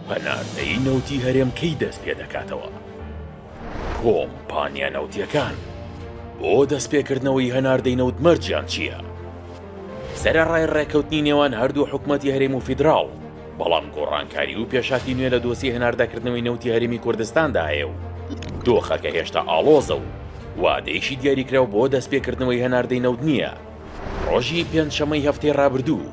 پەناردەیی نەوتی هەرێم کەی دەست پێ دەکاتەوە؟ کۆمپانیا نەوتییەکان بۆ دەست پێکردنەوەی هەناردەی نەوت مەرجیان چییە؟ سەرەڕای ڕێکەوتنی نێوان هەردوو حکومەتی هەرێم و فیدراڵ، بەڵام گۆڕانکاری و پێشاتی نوێ لە دۆسی هەناردەکردنەوەی نەوتی هەرێمی کوردستاندا هەیە و دۆخەکە هێشتا ئاڵۆزە و وادەیەکی دیاریکراو بۆ دەست پێکردنەوەی هەناردەی نەوت نییە. ڕۆژی پێنجشەممەی هەفتەی ڕابردوو،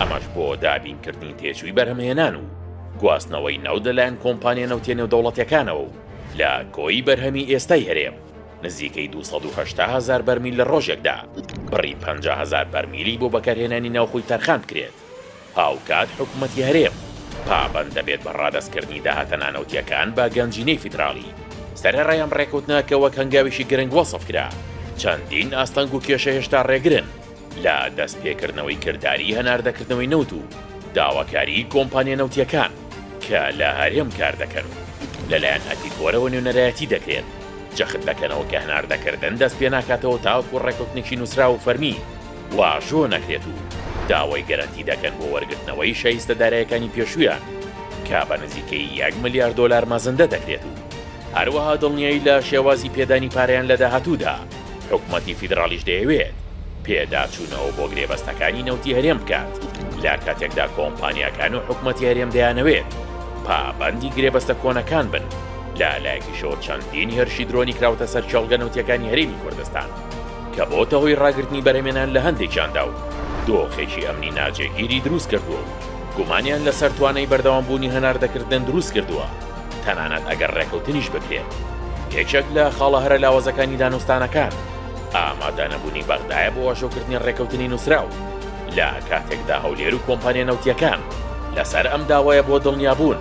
ئەمەش بۆ دابینکردنی تێچووی بەرهەمهێنان و گواستنەوەی نەوت لەلایەن کۆمپانیا نەوتێ نێودەوڵەتیەکانەوە و لە کۆی بەرهەمی ئێستای هەرێم نزیکەی 280 هزار بەرمیل لە ڕۆژێکدا بڕی 50 هزار بەرمیلی بۆ بەکارهێنانی ناوخۆی تەرخان بکرێت هاوکات حکوومەتی هەرێم پابەند دەبێت بە ڕادەستکردنی داهاتە نانەوتیەکان بە گەنجینەی فیدراڵی سەرەڕایەم ڕێکوتنەکە وەک هەنگاویشی گرنگ وەسف کرا چەندین ئاستەنگ و کێشە هێشتا ڕێگرن لە دەستپێکردنەوەی کرداری هەناردەکردنەوەی نەوت و داواکاریی کۆمپانیا نەوتییەکان کە لە هەرێم کار دەکەن و لەلایەن ئەتیکۆرەوە نوێنەرایەتی دەکرێن، جەخت دەکەنەوە کە هەناردەکردن دەست پێ ناکاتەوە تاوەکو ڕێککەوتنێکی نووسراو و فەرمی واژۆ نەکرێت و داوای گەرەنتی دەکەن بۆ وەرگرتنەوەی شایستە دارایەکانی پێشوویان کە بە نزیکەی یەک ملیار دۆلار مەزندە دەکرێت و هەروەها دڵنیایی لە شێوازی پێدانی پارەیان لە داهاتوودا. حکومەتی فیدراڵیش دەیەوێت پێداچوونەوە بۆ گرێبەستەکانی نەوتی هەرێم بکات، لە کاتێکدا کۆمپانیاکان و حکومەتی هەرێم دەیانەوێت پابەندی گرێبەستە کۆنەکان بن، لە لایەکیشەوە چەندین هێرشی درۆنی کراوەتە سەر کێڵگە نەوتییەکانی هەرێمی کوردستان، کە بۆتە هۆی ڕاگرتنی بەرهەمێنان لە هەندێکیاندا و دۆخێکی ئەمنی ناجێگیری دروستکردووە و گومانیان لەسەر توانای بەردەوامبوونی هەناردەکردن دروستکردووە. تەنانەت ئەگەر ڕێکەوتنیش بکرێت. یەکێک لە خاڵە هەرە لاوازەکانی دانوستانەکان، ئامادەنەبوونی بەغدایە بۆ واژۆکردنی ڕێکەوتنی نووسراو، لە کاتێکدا هەولێر و کۆمپانیا نەوتییەکان لەسەر ئەم داوایە بۆ دڵنیابوون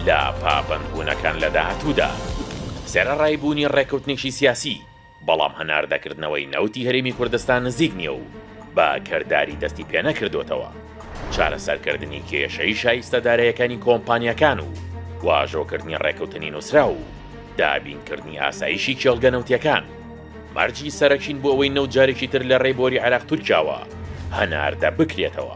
لە پابەندبوونەکان لە داهاتوودا سەرەڕای بوونی ڕێکەوتنێکی سیاسی، بەڵام هەناردەکردنەوەی نەوتی هەرێمی کوردستان نزیک نییە و بە کرداری دەستی پێنەکردۆتەوە، چارەسەرکردنی کێشەی شایستە داراییەکانی کۆمپانیاکان و واژۆکردنی ڕێکەوتنی نوسراو و دابینکردنی ئاسایشی کێڵگە نەوتیەکان مەرجی سەرەکین بۆ ئەوەی نەوت جارێکی تر لە ڕێی بۆری عێراق تورکیاوە هەناردە بکرێتەوە.